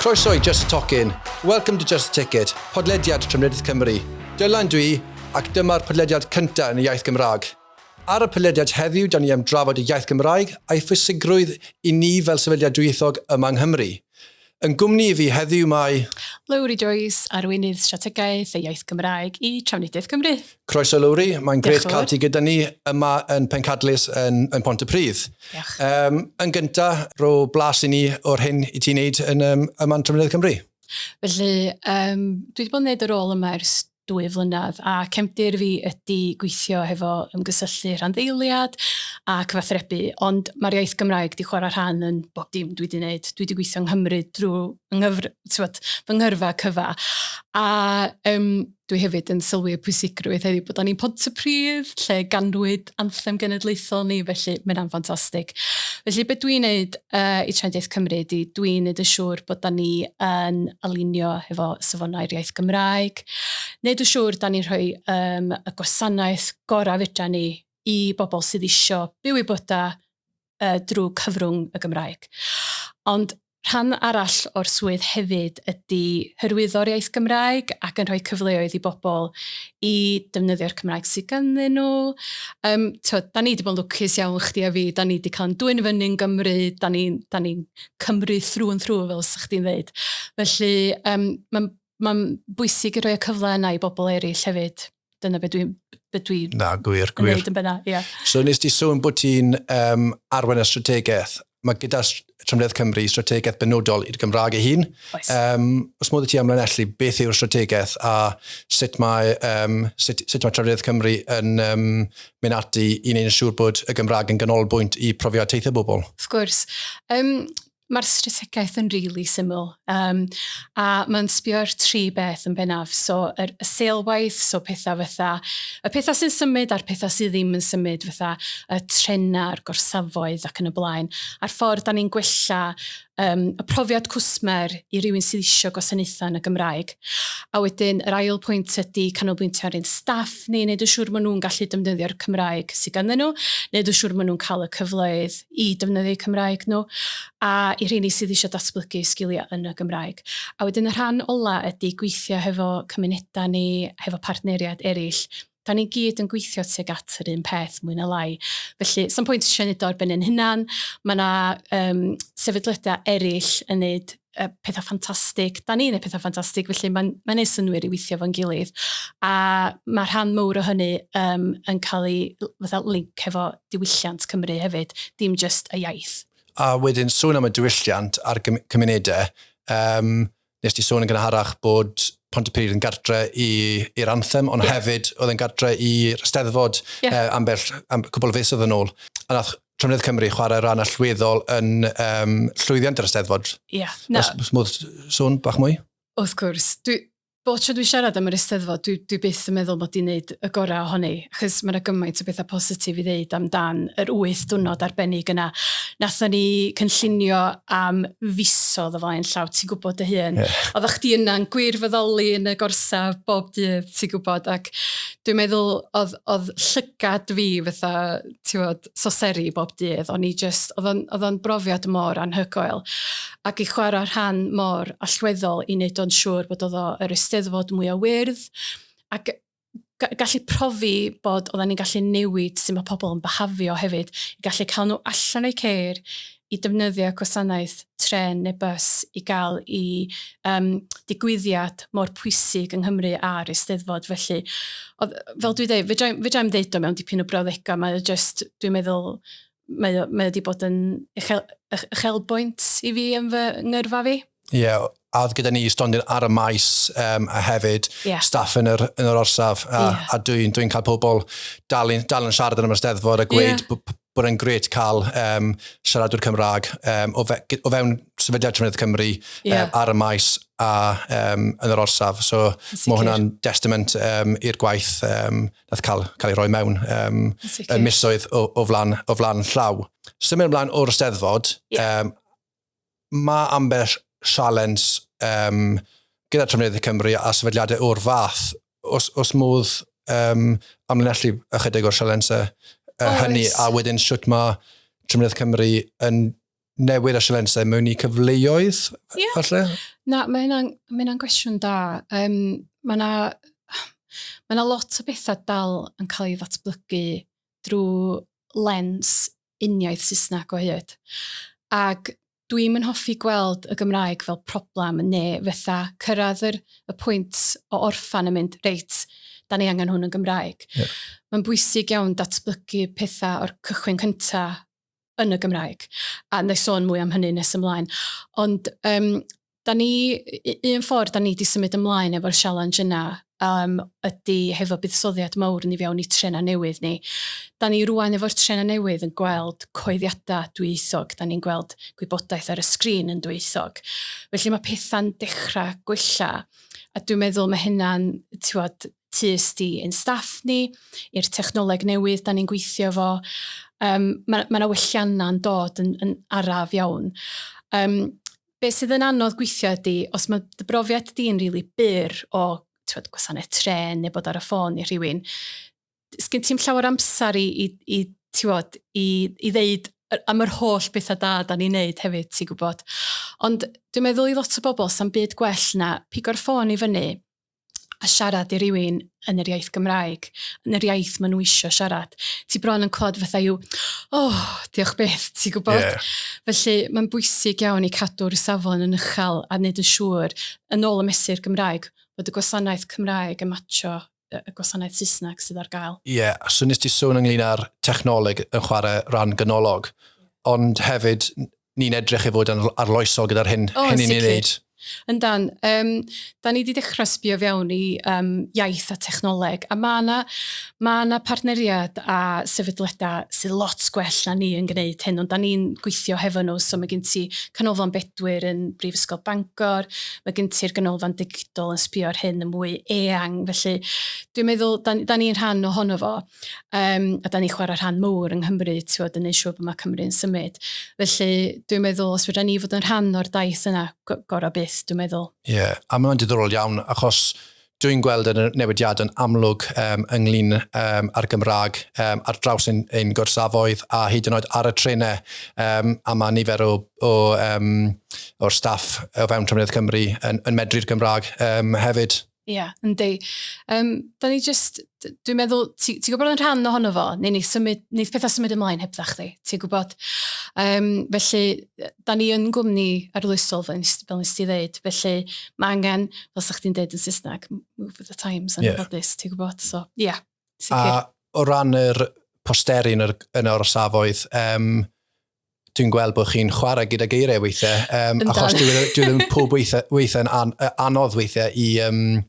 Croeso i Just a Tocyn. Welcome to Just a Ticket, podlediad Trefnyddyd Cymru. Dylan dwi, ac dyma'r podlediad cyntaf yn y iaith Gymraeg. Ar y podlediad heddiw, da ni am drafod y iaith Gymraeg a'i phwysigrwydd i ni fel sefydliad dwyieithog yma yng Nghymru. Yn gwmni i fi heddiw mae... Lowri Joyce, Arweinydd Strategaeth y Iaith Gymraeg i Trafnidiaeth Cymru. Croeso Lowri, mae'n grêt cael ti gyda ni yma yn Pencadlys yn, yn Pont y Pridd. Diolch. Um, yn gyntaf, rho blas i ni o'r hyn i ti'n neud yn, um, yma'n Trafnidiaeth Cymru. Felly, um, dwi wedi bod yn gwneud y rôl yma ers dwy flynedd a cefndir fi ydy gweithio hefo ymgysylltu rhanddeiliad a cyfathrebu ond mae'r iaith Gymraeg di chwarae rhan yn bob dim dwi di wneud. Dwi di gweithio yng Nghymru drwy ynghyfr, tywed, fy nghyrfa cyfa a um, dwi hefyd yn sylwi y pwysigrwydd heddiw bod o'n un pod y pridd lle ganwyd anthem genedlaethol ni, felly mae hynna'n ffantastig. Felly beth dwi'n neud uh, i Trendith Cymru ydy dwi'n neud yn siŵr bod da ni yn alinio hefo safonau'r iaith Gymraeg, neud yn siŵr da ni'n rhoi um, y gwasanaeth gorau fydra ni i bobl sydd eisiau byw i byda uh, drwy cyfrwng y Gymraeg. Ond rhan arall o'r swydd hefyd ydy hyrwyddo'r iaith Gymraeg ac yn rhoi cyfleoedd i bobl i defnyddio'r Cymraeg sydd ganddyn nhw. Um, to, da ni wedi bod yn lwcus iawn chdi a fi, da ni wedi cael yn dwy'n fyny yn Gymru, da ni'n ni Cymru thrwy yn thrwy fel sa'ch chdi'n ddeud. Felly um, mae'n ma bwysig i roi y cyfle yna i bobl eraill hefyd. dyna beth dwi'n dwi Na, gwir, gwir. yn benna, yeah. So nes ti sôn bod ti'n um, arwain y strategaeth. Mae gyda Trymledd Cymru strategaeth benodol i'r Gymraeg ei hun. Oes. Um, os modd i ti amlinellu, beth yw'r strategaeth a sut mae, um, sut, sut mae Trymledd Cymru yn um, mynd ati i wneud yn siŵr bod y Gymraeg yn ganolbwynt i profiad teithio bobl? Of gwrs. Um, Mae'r strategaeth yn rili really syml um, a mae'n sbio ar tri beth yn bennaf. So, yr, y seilwaith, so pethau fatha, y pethau sy'n symud a'r pethau sydd ddim yn symud, fatha y trenau, a'r gorsafoedd ac yn y blaen, a'r ffordd da ni'n gwella um, y profiad cwsmer i rywun sydd eisiau gwasanaethau yn y Gymraeg. A wedyn, yr ail pwynt ydy canolbwyntio ar ein staff ni, wneud yn siŵr maen nhw'n gallu defnyddio'r Cymraeg sydd ganddyn nhw, wneud yn siŵr maen nhw'n cael y cyfleoedd i defnyddio eu Cymraeg nhw, a i rheini sydd eisiau datblygu eu sgiliau yn y Gymraeg. A wedyn y rhan ola ydy gweithio hefo cymunedau ni, hefo partneriaid eraill. Da ni gyd yn gweithio tuag at yr un peth, mwy na lai. Felly, sa'm pwynt eisiau neud o ar ben ein hunan. Mae 'na yym sefydliadau eraill yn neud uh, pethau ffantastig, da ni'n ei pethau ffantastig, felly mae'n mae neud synwyr i weithio fo'n gilydd. A mae rhan mowr o hynny um, yn cael ei fatha link hefo diwylliant Cymru hefyd, dim just y iaith. A wedyn sôn am y diwylliant a'r cymunedau, um, nes ti sôn yn gynharach bod Pont y Pryd yn gartre i'r anthem, ond yeah. hefyd oedd yn gartre i'r steddfod yeah. uh, ambell am, cwbl fus oedd yn ôl. A nath Trefnydd Cymru chwarae rhan allweddol yn um, llwyddiant yr Eisteddfod. Ie. Yeah, no. Os modd sôn bach mwy? Wrth gwrs. Dwi, bod tro dwi siarad am yr Eisteddfod, dwi, dwi byth yn meddwl bod i'n neud y gorau ohoni, achos mae'n gymaint o bethau positif i ddeud amdan yr wyth dwrnod arbennig yna. Nathon ni cynllunio am fisodd o flaen llaw, ti'n gwybod dy hun. Yeah. Oeddech chdi yna'n gwirfoddoli yn y gorsaf bob dydd, ti'n gwybod, ac dwi'n meddwl oedd, oedd llygad fi fatha tiwod, soseri bob dydd, o'n i just, oedd o'n brofiad mor anhygoel. Ac i chwarae rhan mor allweddol i wneud o'n siŵr bod oedd yr ysteddfod mwy o wyrdd, ac gallu profi bod oedden ni'n gallu newid sy'n mae pobl yn byhafio hefyd, i gallu cael nhw allan o'i ceir, i defnyddio gwasanaeth trên neu bws i gael i um, digwyddiad mor pwysig yng Nghymru a'r Eisteddfod. Felly, oedd, fel dwi'n dweud, fe fedrai'm ddeud o mewn dipyn o brawddegau, mae o just, dwi'n meddwl, mae o, mae o wedi bod yn uchel, uchelbwynt i fi yn fy ngyrfa fi. Ie, yeah, a oedd gyda ni stondin ar y maes um, a hefyd yeah. staff yn yr, yn yr orsaf a, yeah. a dwi'n dwi cael pobl dal yn, dal yn siarad yn ymwsteddfod a gweud yeah. bod e'n gret cael um, siaradwr Cymraeg um, o, fe, o fewn sefydliad Trefnydd Cymru yeah. um, ar y maes a um, yn yr orsaf. So mae hwnna'n destament um, i'r gwaith um, nath cael, cael ei roi mewn um, y misoedd o, o, flan, o flan llaw. Symud ymlaen o'r steddfod, yeah. um, Mae ambell sialens um, gyda Trafnidiaeth Cymru a sefydliadau o'r fath, os, os modd um, amlinellu ychydig o'r sialensau uh, hynny, a wedyn sut mae Trafnidiaeth Cymru yn newid y sialensau mewn i cyfleoedd, yeah. falle? Na, mae hynna'n ma gwestiwn da. Um, mae yna ma lot o bethau dal yn cael ei ddatblygu drwy lens uniaith Saesneg o hyd. Ac dwi'm yn hoffi gweld y Gymraeg fel problem ne' fetha cyrraedd yr y pwynt o orffan yn mynd reit, 'da ni angen hwn yn Gymraeg. Ie. Mae'n bwysig iawn datblygu petha o'r cychwyn cynta yn y Gymraeg. A 'na i sôn mwy am hynny nes ymlaen. Ond yym da ni, un ffordd da ni wedi symud ymlaen efo'r sialens yna um, ydy hefo buddsoddiad mawr ni fewn i trena newydd ni. Da ni rwan efo'r trena newydd yn gweld coeddiadau dwyieithog, da ni'n gweld gwybodaeth ar y sgrin yn dwyieithog. Felly mae pethau'n dechrau gwella a dwi'n meddwl mae hynna'n tiwod, tust i ein staff ni, i'r technoleg newydd da ni'n gweithio fo. Um, mae yna ma welliannau'n dod yn, yn araf iawn. Um, Be sydd yn anodd gweithio ydy, os mae dy brofiad di'n rili really byr o twed, gwasanaeth tren neu bod ar y ffôn i rhywun, sgyn ti'n llawer amser i, i, i, tiwod, i, i ddeud am yr holl bethau da da ni'n neud hefyd, ti'n gwybod. Ond dwi'n meddwl i lot o bobl, sa'n byd gwell na pigo'r ffôn i fyny, a siarad i rywun yn yr iaith Gymraeg, yn yr iaith maen nhw eisiau siarad. Ti bron yn clod fatha yw, oh, diolch beth, ti'n gwybod? Yeah. Felly mae'n bwysig iawn i cadw'r safon yn uchel a wneud yn siŵr, yn ôl y mesur Gymraeg, bod y gwasanaeth Cymraeg yn matcho y gwasanaeth Saesneg sydd ar gael. Ie, yeah, a so nes ti sôn ynglyn â'r technoleg yn chwarae rhan ganolog, ond hefyd ni'n edrych i fod yn arloesol gyda'r hyn, oh, hyn ni'n ei wneud. Yn dan, um, da ni wedi dechrau sbio fewn i um, iaith a technoleg, a mae yna ma na partneriad a sefydliadau sydd lot gwell na ni yn gwneud hyn, ond da ni'n gweithio hefo nhw, so mae gen ti Canolfan Bedwyr yn Brifysgol Bangor, mae gen ti'r Ganolfan Digidol yn sbio ar hyn yn mwy eang, felly dwi'n meddwl, da, da ni'n rhan ohono fo. Um, a da ni chwarae rhan mawr yng Nghymru, ti'n yn ei siŵr bod mae Cymru'n symud. Felly, dwi'n meddwl, os fydda ni fod yn rhan o'r daith yna, gorau byth, dwi'n meddwl. Ie, yeah. a mae'n diddorol iawn, achos dwi'n gweld y newidiad yn amlwg um, ynglyn um, â'r Gymraeg um, ar draws ein, ein gorsafoedd a hyd yn oed ar y trenau um, a mae nifer o, o, um, o'r staff o fewn Trefniad Cymru yn, yn medru'r Gymraeg um, hefyd. Ie, yeah, yndi. Um, da ni just, dwi'n meddwl, ti'n ti gwybod yn rhan ohono fo, neu ni symud, neith pethau symud ymlaen heb dda chdi, ti'n gwybod. Um, felly, da ni yn gwmni arloesol, fel nes ti ddeud, felly mae angen, fel sa chdi'n deud yn Saesneg, move with the times, yn yeah. ffodus, ti'n gwybod. So, ie, yeah, sicr. A o ran yr posteri yn yr, yn yr orsafoedd, um, dwi'n gweld bod chi'n chwarae gyda geiriau weithiau, um, achos dwi e, e ddim pob weithiau, weithiau yn an, anodd weithiau i, um,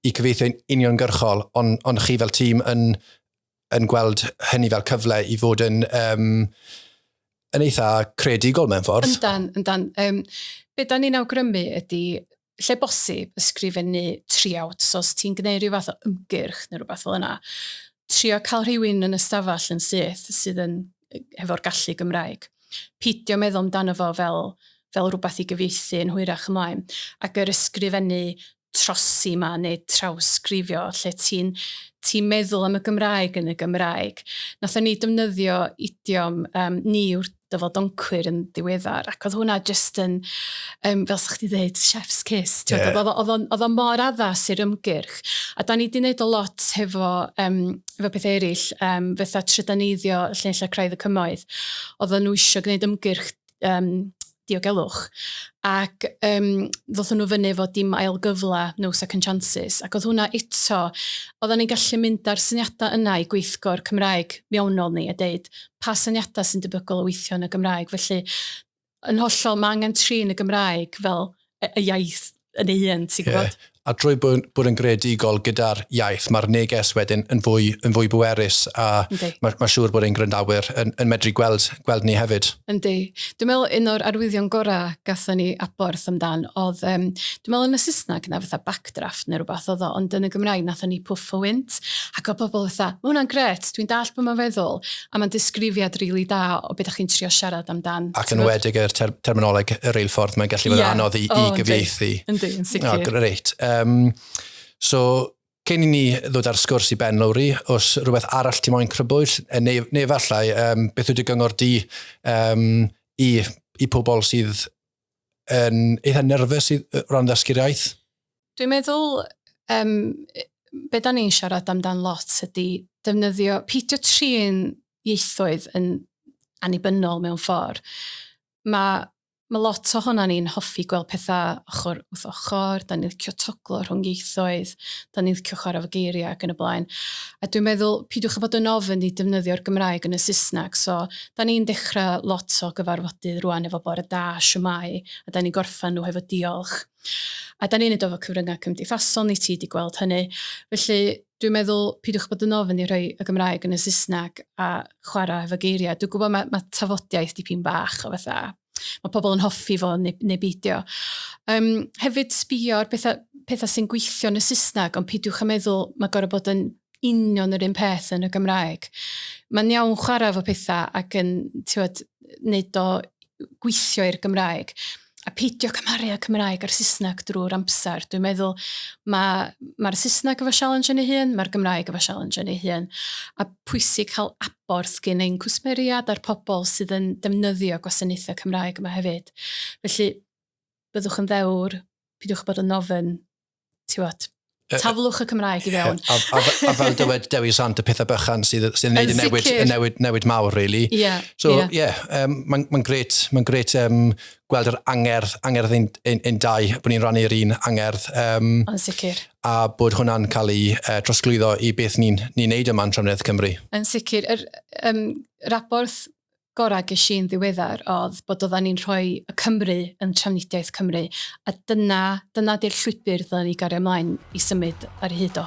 i cyfeithio'n uniongyrchol, ond on chi fel tîm yn, yn gweld hynny fel cyfle i fod yn, um, yn eitha credigol mewn ffordd. Yndan, yndan. Um, be da ni'n awgrymu ydy lle bosib, ysgrifennu triawd. So os ti'n gwneud rhyw fath o ymgyrch neu rhywbeth fel yna, trio cael rhywun yn ystafell yn syth sydd yn hefo'r gallu Gymraeg. Pidio meddwl amdano fo fel, fel rhywbeth i gyfeithi yn hwyrach ymlaen. Ac yr ysgrifennu trosi yma neu trawsgrifio lle ti'n ti meddwl am y Gymraeg yn y Gymraeg. Nathon ni defnyddio idiom, um, ni yw'r dyfod doncwyr yn ddiweddar, ac oedd hwnna jyst yn, um, fel sa'ch chi ddeud, chef's kiss. Yeah. Oedd o'n oedd o'n mor addas i'r ymgyrch. A da ni wedi gwneud o lot hefo, um, hefo pethau eraill, um, fetha trydaneiddio llenillau craidd y cymoedd. Oedd nhw eisiau gwneud ymgyrch um, diogelwch. Ac um, ddothon nhw fyny fod dim ail gyfle, no second chances. Ac oedd hwnna eto, oedden ni'n gallu mynd ar syniadau yna i gweithgor Cymraeg mewnol ni a deud, pa syniadau sy'n debygol o weithio yn y Gymraeg. Felly, yn hollol, mae angen trin y Gymraeg fel y iaith yn ei hun, ti'n gwybod? Yeah. A drwy bod, bod yn greadigol gyda'r iaith, mae'r neges wedyn yn fwy, yn fwy bwerus a okay. mae, mae siŵr bod ein gwrandawyr yn, yn medru gweld, gweld ni hefyd. Yndi. Dwi'n meddwl un o'r arwyddion gorau gatho ni aborth amdan oedd, um, dwi'n meddwl yn y Saesneg yna fatha back backdraft neu rwbath oedd o, ond yn y Gymraeg nathon ni pwff o wynt, ac oedd pobl fatha, ma' hwnna'n gret, dwi'n dallt be mae'n feddwl, a mae'n disgrifiad rili really da o beth ydych chi'n trio siarad amdan. Ac yn wedig yr ter terminoleg y reilffordd, mae'n gallu bod yeah. anodd i, oh, i gyfieithu. Yndi, yn sicr. Oh, great. Um, so, cyn i ni ddod ar sgwrs i Ben Lowry, os rhywbeth arall ti moyn crybwyll, e, neu, neu efallai, um, beth ydy gyngor di um, i, i pobl sydd yn eitha nerfus o ran ddysgu'r iaith? Dwi'n meddwl, um, be da ni'n siarad amdan lot ydy defnyddio, peidio trin ieithoedd yn annibynnol mewn ffordd. Mae ma lot o hwnna ni'n hoffi gweld pethau ochr wrth ochr, da ni'n licio toglo rhwng ieithoedd, da ni'n licio chwarae fo geiriau ac yn y blaen. A dwi'n meddwl, pidiwch a bod yn ofyn i defnyddio'r Gymraeg yn y Saesneg, so Da ni'n dechrau lot o gyfarfodydd rwan efo bore da, shwmae, a da ni'n gorffen nhw hefo diolch. A da ni'n neud o efo cyfryngau cymdeithasol, ni ti di gweld hynny. Felly, dwi'n meddwl, pidiwch bod yn ofn i rhoi y Gymraeg yn y Saesneg a chwarae hefo geiriau. Dwi'n gwybod mae, mae tafodiaith dipyn bach o fatha, mae pobl yn hoffi fo neu, neu beidio. Um, hefyd sbio ar pethau, pethau sy'n gweithio yn y Saesneg, ond pidiwch a meddwl mae gorau bod yn union yr un peth yn y Gymraeg. Mae'n iawn chwarae fo pethau ac yn tiwed, wneud o gweithio i'r Gymraeg. A peidio cymharu y Cymraeg a'r Saesneg drwy'r amser. Dwi'n meddwl mae'r ma, ma Saesneg efo sialens yn ei hun, mae'r Gymraeg efo sialens yn ei hun. A pwysig cael Wrth gyn ein cwsmeriaid a'r pobl sydd yn defnyddio gwasanaethau Cymraeg yma hefyd. Felly, byddwch yn ddewr, pidiwch â bod yn ofn, ti'wod, taflwch y Cymraeg i fewn. Yeah. A, a, a, fel dywed Dewi Sant, y pethau bychan sydd, sydd yn neud y newid, y newid, newid mawr, really. Yeah, so, yeah, yeah um, mae'n ma gret, mae'n gret um, gweld yr angerdd, angerdd ein, ein, ein dau, bod ni'n rannu'r un angerdd. Um, yn sicr. A bod hwnna'n cael ei uh, trosglwyddo i beth ni'n ni wneud yma yn Trefnydd Cymru. Yn sicr. Yr um, raborth gorau ges i'n ddiweddar oedd bod oedden ni'n rhoi y Cymru yn trafnidiaeth Cymru a dyna, dyna di'r llwybr dda ni gario ymlaen i symud ar hyd o.